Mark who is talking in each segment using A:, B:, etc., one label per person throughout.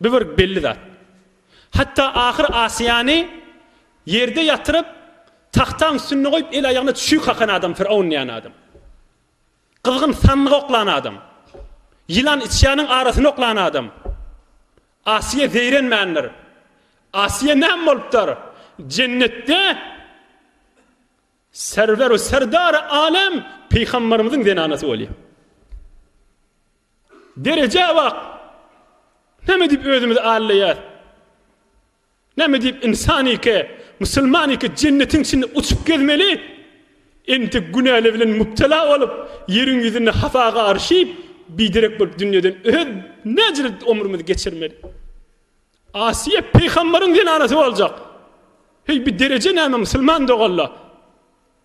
A: Bu bir belli zat. Hatda ahyr Asiýany ýerde ýatyryp, tagtaň üstünde goýup, el-aýagyna çüýk kakan adam Firown diýen adam. Gyzgyn sandygy oklan adam. Ýylan içýanyň arasyny oklan adam. Asiýa zeýrenmändir. Asiýa näme bolupdyr? Jennetde Serwer-u serdary alem Pygamberimiziň zenanasy bolýar. Derejä bak! Näme diýip özümizi allaýas? Näme diýip ynsan ike, musulman ike jennetiň içinde uçup gezmeli? Entek günäler bilen mubtela bolup, ýeriň ýüzünde hapa garyşyp, biderek bolup dünýeden öz näjilik omrumyzy geçirmeli? Asiýa Peýgambaryň zenanasy boljak. Heý, bi dereje näme musulman doganlar?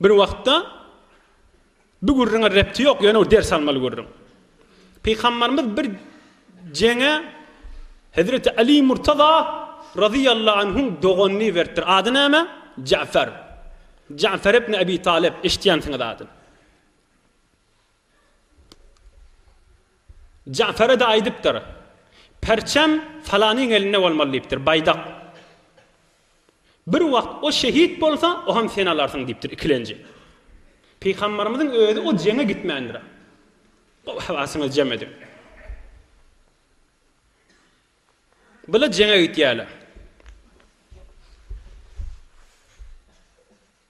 A: Bir wagtda Bu gürrüňe repti ýok, ýöne bu ders almaly gürrüň. Pygamberimiz bir jeňe Hezreti Ali Murtaza radiyallahu anhuň doganyny beripdir. Ady näme? Ja'fer. Ja'fer ibn Abi Talib, eşitýänsiňiz adyny. Ja'fere de aýdypdyr. Perçem falanyň elinde bolmaly diýipdir, baýdak. Bir wagt o şehit bolsa, ohem sen alarsyň diýipdir ikilenji. Pygamberimiziň özi o jeňe gitmändir. Gowy hawasyňyzy jem ediň. Bular jeňe gitýärler.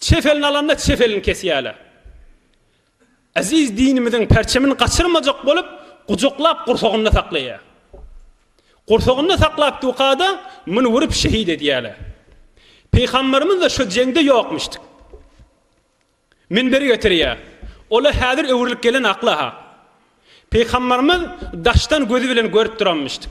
A: Çep elini alanda çep elini kesýärler. Eziz dinimiziň perçemini gaçyrmajak bolup, gujaklap gursagynda saklaýar. Gursagynda saklap dukada muny urup şehit edýärler. Pygamberimiz-de şu jeňde ýokmuşdyk. Minberi getirýär. Ol-a häzir öwrülip gelen akla-ha. Pygamberimiz daşdan gözi bilen görüp duranmyşdyk.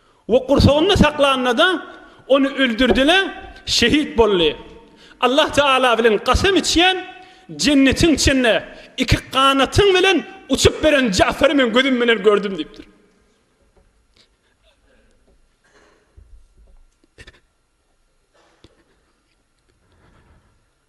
A: We gursagynda saklanynda-da, ony öldürdiler, şehit boldy. Allah Tagala bilen kasam içýän, Jennetiň içinde iki ganatyň bilen uçup beren Ja'fary men gözüm bilen gördüm diýipdir.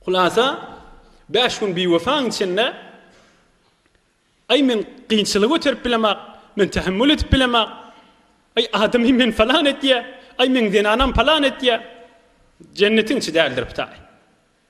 A: Hulasa 5 gün biwefaň içinde Ay men kynçylyk öterip bilemak, men tahammül etip bilemak. Ay adamy men falan etýä, ay men zenanam falan etýä. Jennetin içi däldir bitaý.